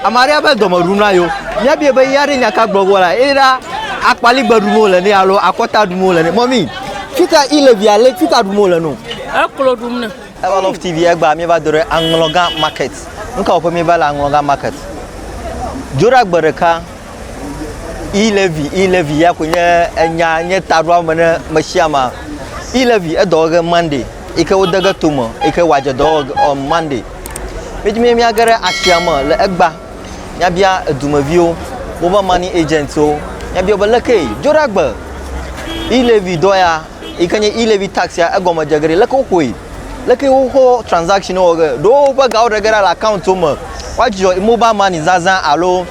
Ame aɖe be dɔme ɖum na yewo. Míabie be ya ɖe nya ka gblɔ vɔ la, eye ɖa akpaligbe ɖum wole ne alo akɔta ɖum wole ne. Mɔmi, fita ilevia le fita ɖum wole no. Eklo ɖum ne. Eva love TV egba míeva do ɖe aŋlɔga market. Nu ka wɔƒe míeva le aŋlɔga market? Dzo ɖe agbe ɖeka. Ilevi, ilevi ya ko nye enya nye taɖoa me ne meshiama. Ilevi edɔwɔge Monday, ike wodege tome, ike wadze dɔwɔge on Monday. Míedi be míage ɖe asia me le egbea, míabia edumeviwo, woƒe money agentswo, míabia wo be leke Joɖagbe e-levy dɔ ya yi ke nye e-levy tax ya egɔme dze ge ɖi, leke woƒoe, leke woƒe transaction wɔ ge. Ɖewo woƒe gawo ɖe ge ɖa le account wo me. Woadzudzɔ mobile money zazã alo.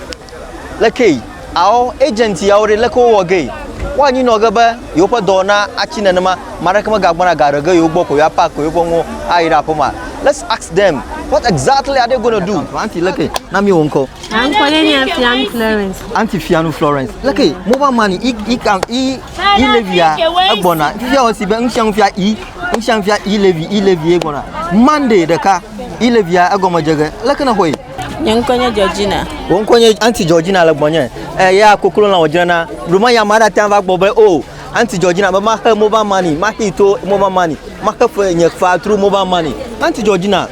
Lekee? Ao, agent yawo ɖe, leke wowɔ gee? Woa anyinɔ ge be yewo ƒe dɔ na atsi nenema, ame aɖeke me ga gbɔna ga ɖe ge yewo gbɔ ko yewoa pack yewoƒe nuwo ayi ɖe aƒe ma. Let's ask them, what exactly are they going to do? Aunty leke? Na mi wò ŋkɔ. Nye ŋkɔ ye nye Fianu Florence. Aunty Fianu Florence, leke? Mobile money, i, i, ka, i, i levy ya egbɔna. Fifia wɔ si be nu sia nu fia i, nu sia nu fia i levy, i levy ye gbɔna. Monday ɖeka, i levy ya egɔme dze ge. Leke nèxɔe? Nye ŋkɔ nye Georgina. Wò ŋkɔ nye Auntie Georgina le gbɔnye. Eh, ya koklo lã wòdzrena. Bluma ya ma ɖate va gbɔ be, oh, Auntie Georgina be maxe mobile money, maxee to mobile money, maxe fe nye fea through mobile money. Auntie Georgina,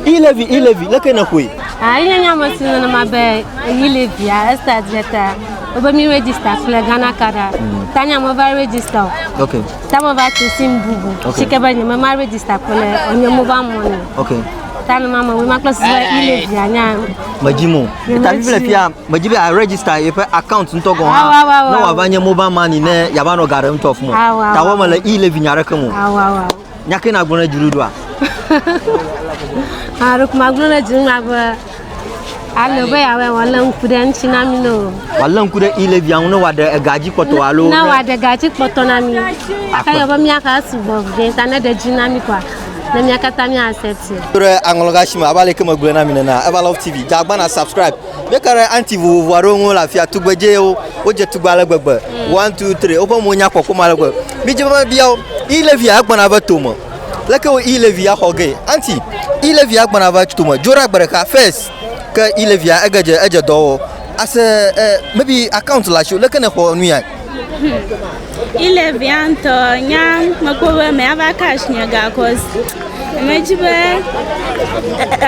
E-levy, E-levy, leke nèxɔe? Ah, ye nya me si nenema be E-levy ya estart ɖe ta. Wobe mi register kple Ghana card a. Mm. Ta nya me va register o. Okay. Ta me va tu sim bubu. Okay. Sike be nye me ma register kple nye mobile money. Okay. Tani ma mawui ma kple sese yi le via nya. Medzi mo. Tani vile pia medzi be a register yeƒe account ŋutɔ gɔn ha. Ne wa va nye mobile money ne ya va nɔ gare ŋutɔ fmo. Ta wo me le i le vinya reke mo. Nya ke na gblɔ ne dzi ɖoɖoa. Ha ro kuma gblɔ ne dzi ma be Ale be yeawɔe wòalé ŋku ɖe eŋuti na mí ne o. Wòalé ŋku ɖe i levia ŋu ne wòaɖe ega dzi kpɔtɔ alo. Ne wòaɖe ega dzi kpɔtɔ na mí. Aka yɔ be míaxa sugbɔ vɛ ta ne ɖe dzi na mí kɔa, ne mía katã mía accepte. Ɖe aŋlɔga si me abe aleke megblɔe na mi nena. Eva Love TV, dze agbana subscribe. Míeka ɖe anti vovovo aɖewo ŋu le afia. Tugbedzewo, wodze tugbe ale gbegbe. One, two, three. Woƒe mo nya kpɔkpɔm ale gbegbe. Midze be mebia wo. I levia egbɔna eve tome. Leke wo i Levi ya xɔ gee? Anti, i Levi ya gbɔna va tome dzo ɖa gbe ɖeka first ke i Levi ya ege dze edze dɔ wɔ as a eh, maybe account le asi o leke ne xɔ nu ya. I Levi ya ŋutɔ nya mekpɔ be me ava cash nye ga cause medzi be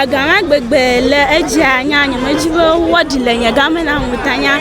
ega ma gbegbe le edzia nya nye medzi be wɔɖi le nye ga me na ŋuta nya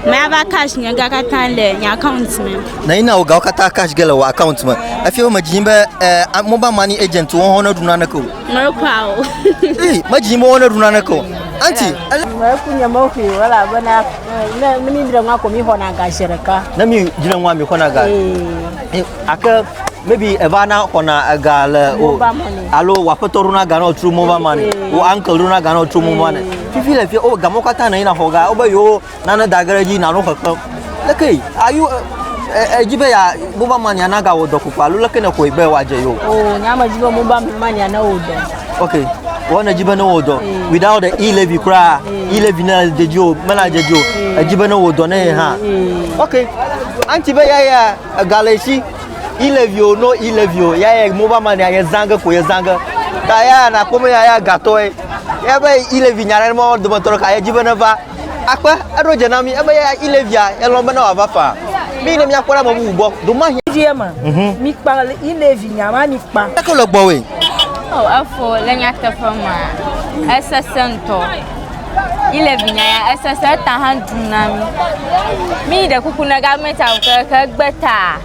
me ava cash nye ga katã le nye account me. Nanyi na wò gawo katã cash ge le wò account me. Efia wo medzi be eh, mobile money agent wo hɔn neɖu naneke o. Mekwa o. Ii, medzi yim be wo neɖu naneke o. Anti, ele. Meku nye meƒui o elabena eh, ne ne mi dre ŋua ko mi xɔna ga zi ɖeka. Ne mi dre ŋua mi xɔna ga. Ee. Eh, Ake maybe eva na xɔna ega le o. Mobile money. Alo wò aƒetɔ ɖona ga na wò tso mobile money. Ee. Wò uncle ɖona ga na wò tso mobile money. Ee. Fifi le fia o gamɔwo katã nanyi na xɔ ga wobe yewo nane da ge ɖe edzi nanɔ xexlẽm. Leke are you edzi be ya mobile money ana gawɔ dɔ koko alo leke nèxɔe be wòadze yewo? O nya medzi be mobile money ana wɔ dɔ. Okay. Wɔn edzi be ne wɔ dɔ. Mm. Without the e-levy koraa, mm. e-levy ne dze dzi o, mena dze dzi o. Mm. Edzi be ne wɔ dɔ ne ye hã. Okay. Anti be ya ya ega le si e-levy o no e-levy o ya ya mobile money ye zange ko ye zange. Ta ya na kpɔ be ya ya gatɔe. Ya be e-levy nya ɖe mɔ dometɔ ɖeka ye dzi be ne va Akpe, eɖo dze na mí ebe ya Ilevia elɔ̃ bena wòava faa mí ne míakpɔ ɖe ame bubu gbɔ domahi. Vie me, mhm. mi kpa Ilevi nya ma mi kpa. Eke le gbɔwòe. O oh, efo le nyateƒe ma esese ŋutɔ. Ilevi nya ya esese eta hã dum na mí. Mí ɖe kuku ne gavmɛnti awu ke ke gbe ta.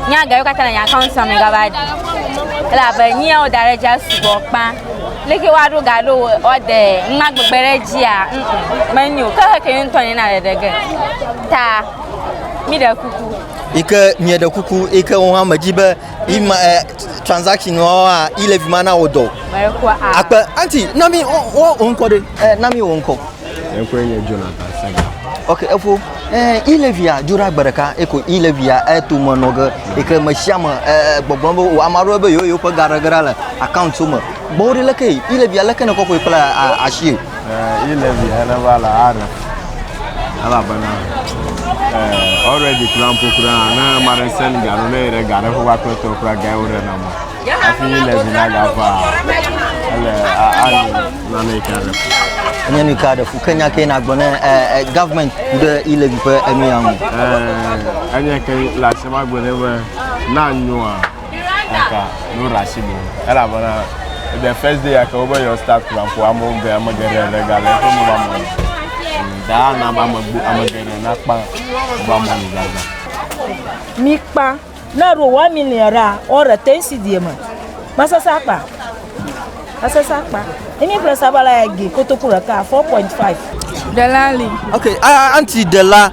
Nya gawo katã le nye account me gava ɖi. Elabe nu ya woda ɖe edzia sugbɔ kpã. Leke woaɖo ga ɖo woade numa gbegbe ɖe edzia? Ŋ menyo. Ke heke ye ŋutɔ nina ɖeɖe ge. Ta míɖe kuku. Yi ke mieɖe kuku yi ke wo hã medzi be yi ma eh, transaction wɔa yi le vi ma na wo dɔ. Mekua a. Akpe anti na mi wo wo ŋkɔ ɖe. Eh, na mi wo ŋkɔ. Eƒe nye Jonathan Sega. Ok, efo eh, ilevia dzo ɖe agbe ɖeka eko ilevia eto me nɔ ge eke me sia me eh, gbɔgblɔ be o ame aɖewo be yewo yewoƒe ga ɖe ge ɖa le akauntiwo me. Gbɔwo ɖe leke ilevia leke ne kɔkɔe kple asi. Eh, ilevia ne va le are elabena eh, already kura ƒo kura ne mare sen ga ɖo ne yi ɖe ga ɖe ƒe va kple tɔ kura ga yewo ɖe na mo. Hafi le zi na ga va ele ani na ne ka ɖe fu. Enye nu ka ɖe fu ke nya ke na gbɔ ne eh, eh, government ku ɖe ilevi ƒe enu ya ŋu. Eh, enye ke le ase ma gbe ne be na nyoa eka no rasi bo. Ela bana the first day aka obe your start plan po amo ge amo ge re re ga le ko mo ba mo. Da na ba mo gbo amo ge re na pa ba mo ni ga ga. Mi pa Na ro wa mi ne ra o re te si die me. Ma se sa pa. Ma se sa pa. Ini pre sa bala ya gi koto kura ka 4.5. Delali. Okay, a anti dela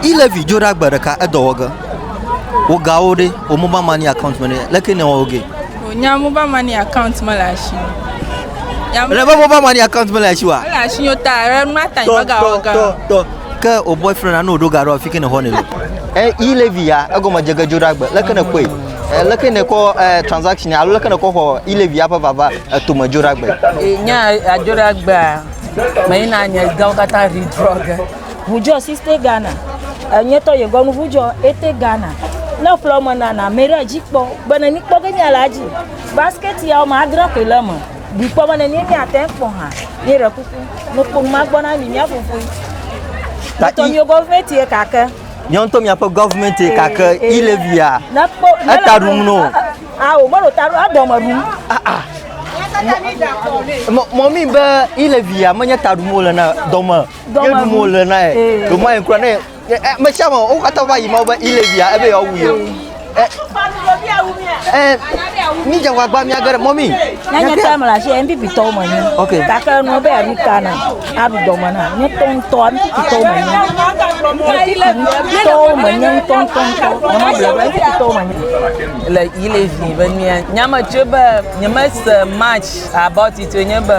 ilevi jo da gbe ɖeka edɔ wɔ ge. Wo ga wo ɖe o mobile money account me ɖe leke ne wɔ wo ge. O nya mobile money account me la shi. Ya mobile money account me la shi wa. La shi yo ta, ma ta ni ga wɔ ge. Ke o boyfriend anu ɖo gaɖo afi ke ne xɔ ne lo. E i levi ya egɔme dze gedzo ɖe agbe. Leke ne kɔe? E leke ne kɔ e transaction alo leke ne kɔ xɔ i levi ya ƒe vava eto me dzo ɖe agbe. E nya adzo ɖe agbe a me yi na nye gawo kata ri drɔge. Vujɔ siste Ghana. E nye tɔ yegɔ nu vujɔ ete Ghana. Ne ƒlɔ me nana me ɖe dzi kpɔ. Be ne mi kpɔ ke nya la dzi. Basket ya o ma adre koe le me. Mikpɔ be ne míe míate kpɔ hã, míe ɖe kuku, nukponu ma gbɔ na mi mía fofoe. Tɔ mío gɔvimɛnti ye kake. Mío ŋutɔ míaƒe gɔvimɛnti ye kake, eh, eh, ile via. Nekpɔ, eta ɖum no. Awo, melo ta ɖum, adɔme ɖum. Ah, ah. Mɔmi be ile via menye ta ɖum wole na dɔme. Dɔme ɖum wole na ye. Dɔme ye kura ne Me sia me wo katã va yi ma be ile via ebe yewoa wu ye. Mi dze ŋgɔgba mi age ɖe mɔ mi. Ne nye tɔ me la si MP pitɔ wo me nyi. Ok. Gake nu be aɖu ta na aɖu dɔ me na nye tɔ ŋutɔ MP pitɔ wo me nyi. MP pitɔ wo me nye ŋutɔ ŋutɔ ŋutɔ. Nye ma bla MP pitɔ wo me nyi. Le ile vi be mia nyame tso be nye me se match about it nye be.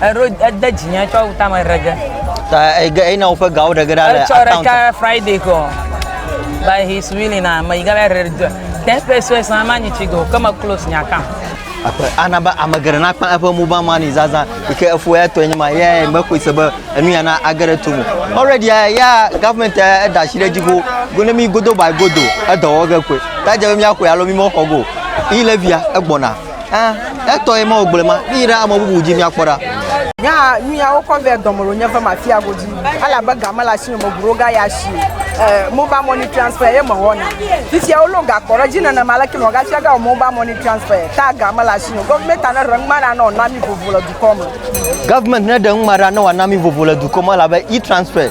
Eɖo ede dzinya tsɔ wu tame ɖe ge. Ta ege eyina woƒe gawo ɖe ge ɖa le account. Etsɔ ɖeka Friday kɔ. By his willing na me yiga le do. Ten pesos na manyi chigo ke me close nya account. Akpe ana be ame geɖe na kpa eƒe mobile money zaza yi ke efo ya tɔ enyima ya me koe se be enu ya na age ɖe to me. Already ya government ya da shi ɖe dzigo go ne mi godo by godo edɔ wɔ ge koe. Ta dze be mi akɔe alo mi mɔ xɔ go. Yi levia egbɔna. Eh, etɔ ye ma o gblɔe ma. Mi ɖe ame bubu dzi miakpɔ ɖa. Nya nu ya wokɔ vɛ dɔme lo nye ƒe mafia godzi ale abe ga mele asi me me ʋuɖo ga ya si eh, mobile money transfer ye mewɔna fifia wolɔ ga kɔ ɖe dzi nenema leke me ga fia ga wɔ mobile money transfer ta ga mele asi me government ne ɖe ŋma ɖa ne wòna mi vovo le dukɔ me. Government ne ɖe ŋma ɖa ne wòana mi vovo le dukɔ me elabe e-transfer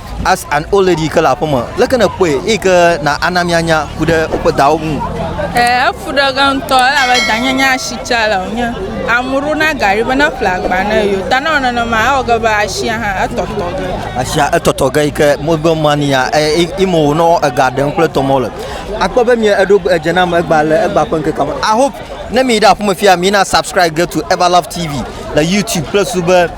As an old lady ke le aƒe me, leke nèkpɔe eyi ke na ana míanya ku ɖe woƒe dawo ŋu? Ee, efu ɖe ge ŋutɔ elabe danye nye asitsa le o. Nye amu ɖo na gari be ne ƒle agba ne eo. Ta ne ewɔ nenema ewɔ ge be asia hã etɔtɔ ge. Asia etɔtɔ ge yi ke mɔgbe mania imo wònɔ ega ɖem kple tɔmɔ le. Akpɔ be mie eɖo edze nam egba le egba ƒe ŋkeke me. I hope ne mi ɖe aƒeme fia mi na subscribe ge to Everlove TV le YouTube kple su be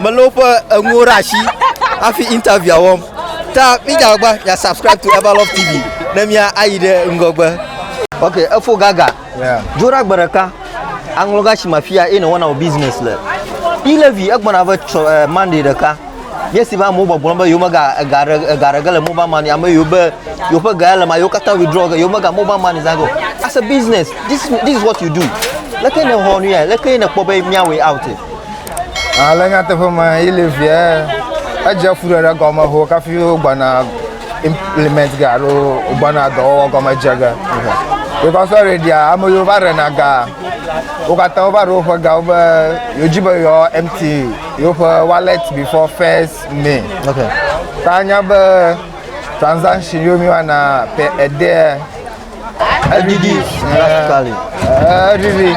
Melé woƒe enuwo ɖe asi hafi interviewa wɔm. Ta midzagba mia subscribe to Everlove TV ne mia ayi ɖe ŋgɔgbe. Ok, efo gaga. Yeah. Dzo ɖe agbe ɖeka. Aŋlɔ ga si ma fia eye nèwɔna wò business le. Ilevi egbɔna ve tsɔ eh, Monday ɖeka. Nye si be amewo gbɔgblɔ be yewomega ega ɖe ega ɖe ge le mobile money ame yiwo be yewoƒe ga ya le ma yewo katã withdraw ge yewomega mobile money zã ge o. As a business, this this is what you do. Leke nèwɔ nu ya? Leke nèkpɔ be míawɔe out? Ale nyateƒe me yi le vie edze fu ɖe ɖe gɔme ho kafi wo gbana implement ga alo gbana dɔwɔwɔ gɔme dze ge because sɔre dia ame yiwo va rena ga wo katã wo va ɖo woƒe ga wo be yewo dzi be yewo empty yewoƒe wallet before first may okay ta nya be transaction yiwo mi wana pe ede edidi edidi